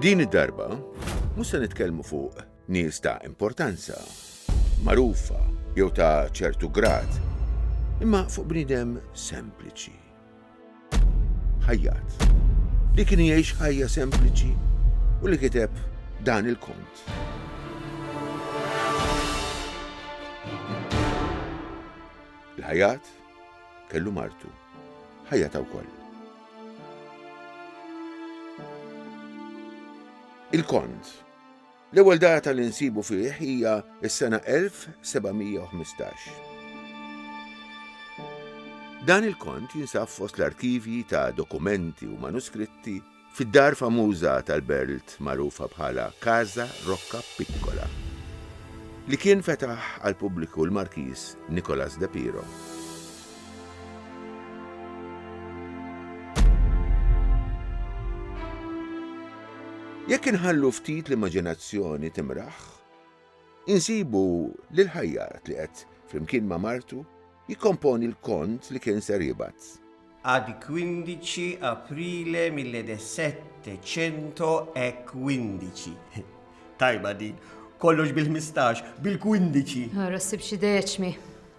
Din id-darba, mhux se nitkellmu fuq nies ta' importanza, magħrufa jew ta' ċertu grad, imma fuq bniedem sempliċi. Ħajjat li kien jgħix ħajja sempliċi u li kiteb dan il-kont. Il-ħajat kellu martu, ħajjata wkoll. il-kont. L-ewwel data li nsibu fih hija s-sena 1715. Dan il-kont jinsab fost l-arkivji ta' dokumenti u manuskritti fid-dar famuża tal-Berlt magħrufa bħala Casa Rocca Piccola, li kien fetaħ għall-pubbliku l-Markiż Nicolas de Piro. Jekk inħallu ftit l-immaġinazzjoni timraħ, insibu lil ħajjat li qed, flimkien ma' martu, jikkomponi l-kont li kien ser jibgħat. Ad 15 Aprile 1715. Tajba din, kollox bil-ħmistax, bil-kwindiċi! Ara ssib xi deċmi.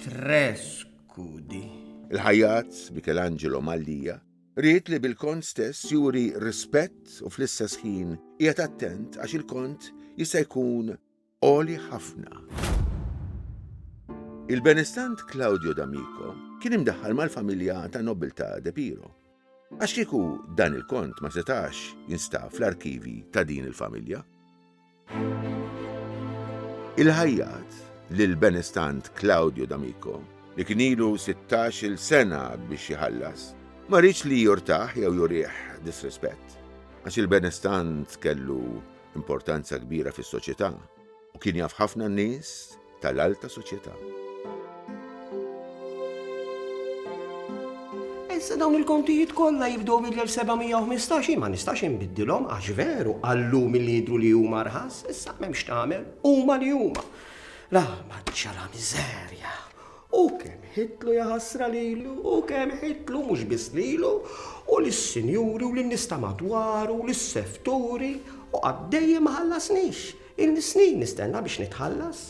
Trescudi. Il-ħajjat Michelangelo Mallia ried li bil-kont stess juri rispett u fl-istess ħin qiegħed attent għax il-kont jista' jkun għoli ħafna. Il-benestant Claudio D'Amico kien imdaħħal mal-familja ta' nobiltà De Piro, għax kieku dan il-kont ma setax jinstab fl-arkivji ta' din il-familja. Il-ħajjat lil benestant Claudio D'Amico, li kien ilu 16-il sena biex jħallas, ma riedx li jurtah jew jurih disrispett, għax il-benestant kellu importanza kbira fis-soċjetà u kien jaf ħafna nies tal-alta soċjetà. Issa dawn il-kontijiet kollha jibdew mill-1715 ma nistax inbiddilhom għax veru għallum li jidru li huma rħas, issa m'hemmx tagħmel, huma li huma. La maċċara miżerja. U kemm ħitlu jaħasra lilu, u kemm ħitlu mhux biss lilu, u lis-sinjuri u lin-nista madwaru, u lis-sefturi, u għaddejjem ħallasnix. Ilni snin nistenna biex nitħallas.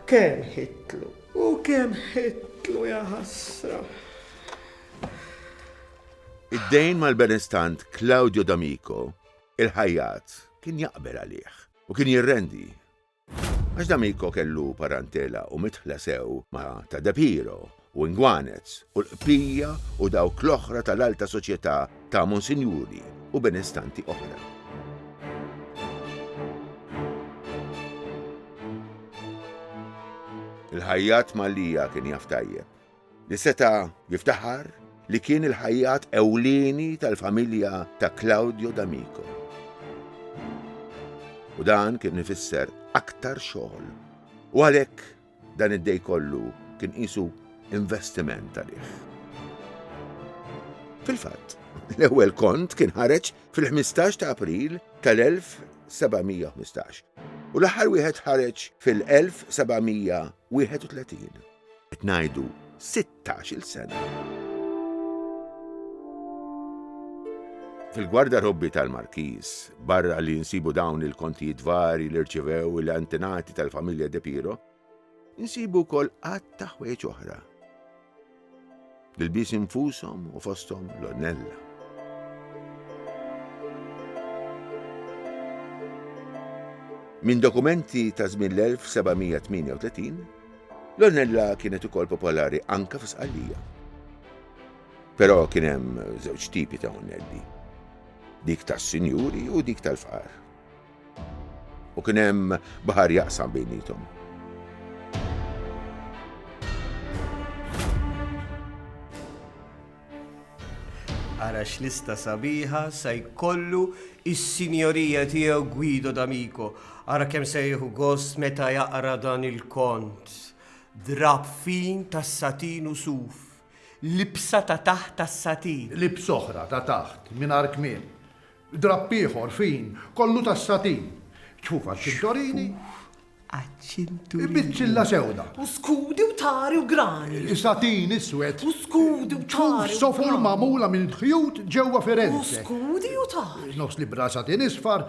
Kemm ħitlu u kemm ħitlu ja ħasra. Id-dejn mal-benestant Claudio D'Amico, il-ħajjat, kien jaqbel għalih u kien jirrendi. Għax D'Amico kellu parantela u mitħla sew ma' ta' De Piro u ngwanez u l-qbija u dawk l-oħra tal-alta soċjetà ta' monsinjuri u benestanti oħra. Il-ħajjat Malija kien jaf tajjeb li seta' jiftaħar li kien il-ħajjat ewlieni tal-familja ta' Claudio D'Amico. U dan kien ifisser aktar xogħol. U għalhekk Dan id-dej kollu kien qisu investiment għalih. Fil-fatt, l-ewwel kont kien ħareġ fil-15 ta' April tal-1715 u l-aħħar wieħed ħareġ fil-1731. Qed ngħidu tax-il sena. Fil-gwarda robbi tal-Markiż, barra li nsibu dawn il-kontijiet vari li rċivew l-antenati tal-familja De Piro, nsibu kol għadd ta' ħwejġ oħra. Bil-bis infushom u fosthom l-onnella. Minn dokumenti ta' żmien l-1738 L-Ornella kienet ukoll popolari anke fi Sqallija. Però kien hemm żewġ tipi ta' Ornelli, dik tas-sinjuri u dik tal-fqar. U kien hemm baħar jaqsam bejnietom. Ara x'lista sabiħa sa jkollu is-Sinjorija tiegħu Guido D'Amico. Ara kemm se jieħu gost meta jaqra dan il-kont. Drab fin tas-satin u suf. Libsa ta' taħt tas-satin. Libs oħra ta' taħt mingħajr kmiem. Drab ieħor fin kollu tas-satin. Ċfuf għaċ-ċintorini. Għaċċiltu. Biċċilla sewda. U skudi u tari u grani. Satin iswed. U skudi u tari. Sofur mamula minn ħjut ġewwa Firenze. U skudi u tari. Nofs li bra satin isfar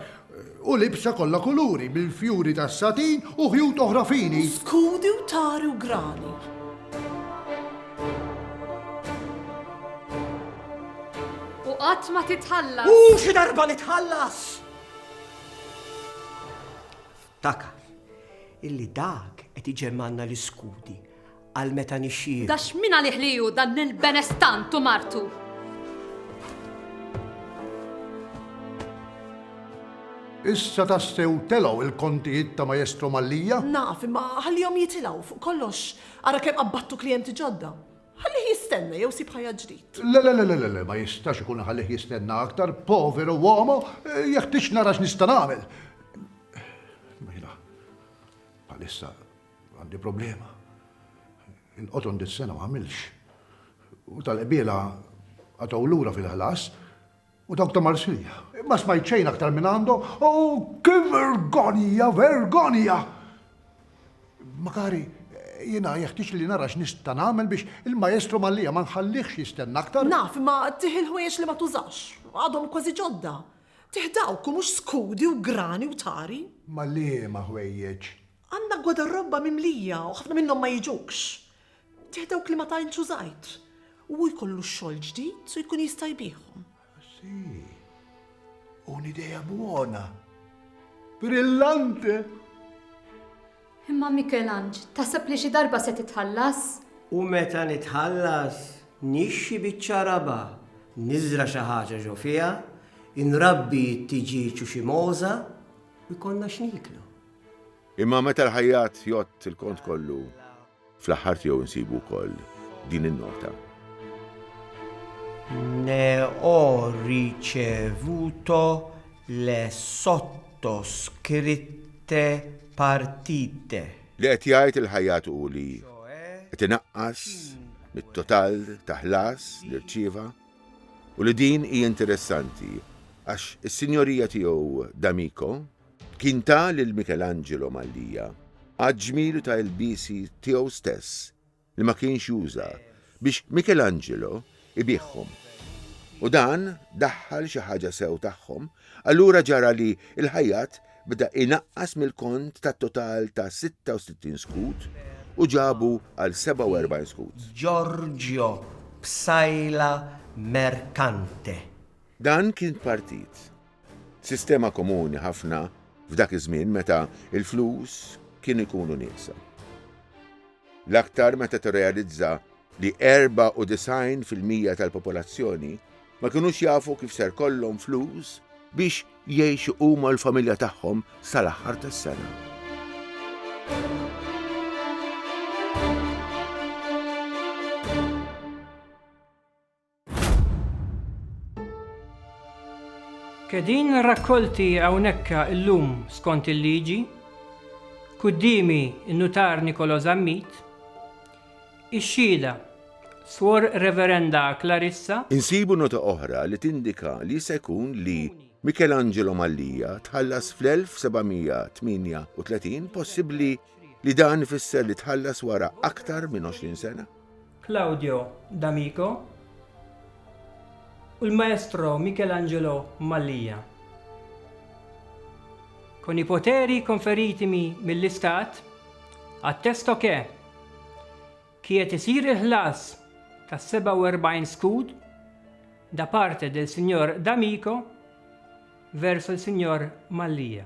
u libsa kollha kuluri bil-fjuri tas satin u ħjut oħra fini. U skudi u tari u grani. U qatt ma titħallas. U xi darba nitħallas. Ftakar illi dak qed iġemmgħalna l-iskudi għal meta nixxieħu. Dax min għalih li hu dan il-benestant u martu! Issa tassew telgħu il-kontijiet ta' Majestro Mallia? Naf, imma ħallihom jitilgħu, fuq kollox, ara kemm qabbattu klijenti ġodda. Ħallih jistenna jew sib ħajja ġdid. Le le le le le ma jistax ikun ħallih jistenna aktar, poveru uomo, jeħtieġ nara x'nista' nagħmel. Mela, bħalissa għandi problema. Inqoton dis-sena ma għamilx. U tal-qbiela għataw lura fil-ħlas, U dawk ta' Marsilja? Ma smajt xejn aktar minn għandhom. Oh, ki vergonja, vergonja! Makari, jiena jeħtieġ li nara x'nista' nagħmel biex il-Maestro Mallia ma nħallihx jistenna aktar. Naf, imma tih il-ħwejjeġ li ma tużax. Għadhom kważi ġodda. Tih dawk u mhux skudi u grani u tari. Ma liema ħwejjeġ? Għandna gwadarrobba mimlija u ħafna minnhom ma jiġux. Tieħ dawk li ma tantx użajt u hu jkollu x-xogħol ġdid u jkun jista' jbiegħhom. Sì, un'idea buona. Brillante! Imma Mikelanġ, taħseb li xi darba se titħallas? U meta nitħallas, nixxi biċċa raba', niżra' xi ħaġa ġo fiha, inrabbi t-tiġieġ u xi mogħża u jkollna x'nieklu. Imma meta l-ħajjat jgħodd il-kont kollu, fl-aħħar tiegħu nsibu wkoll din in-nota. Ne ho ricevuto le sottoscritte partite. Li qed jgħid il-ħajjat hu li qed inaqqas mit-total ta' ħlas li rċieva u li din hija interessanti għax is-sinjorija tiegħu D'Amico Kien ta lil Michelangelo Mallia għaġ-ġmiel ta' ilbiesi tiegħu stess li ma kienx juża biex Michelangelo ibiegħhom. U dan daħħal xi ħaġa sew tagħhom, allura ġara li l-ħajjat beda inaqqas mill-kont ta' total ta' 66 skud u ġabu għal 47 skud. Giorgio Psaila Mercante. Dan kien partit. Sistema komuni ħafna f'dak iż-żmien meta l-flus kienu jkunu nieqsa. L-aktar meta tirrealizza li 94 fil-mija tal-popolazzjoni ma kinux jafu kif ser kollhom flus biex jgħixu huma u l-familja tagħhom sal-aħħar tas-sena. Qegħdin rakkolti hawnhekka llum skont il-liġi, quddiemi n-Nutar Nicolo Zammit, ix-xhieda Suor Reverenda Clarissa, Insibu nota oħra li tindika li jista' jkun li Michelangelo Mallia tħallas fl-1738, possibbli li dan ifisser li tħallas wara aktar minn għoxrin sena? Claudio D'Amico u l-Maestro Michelangelo Mallia. Con i poteri conferitimi mill-Istat, attesto che qiegħed isir il-ħlas ta' 47 skud da parte del Signor D'Amico verso il-Signor Mallia.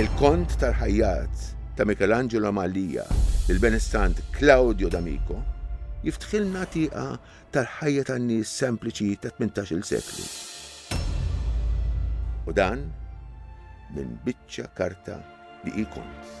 Il-Kont tal-Ħajjat ta' Michelangelo Mallia lill-Benestant Claudio D'Amico jiftħilna tieqa tal-ħajja tan-nies sempliċi tat-tmintax-il seklu. U dan minn biċċa karta li hi kont.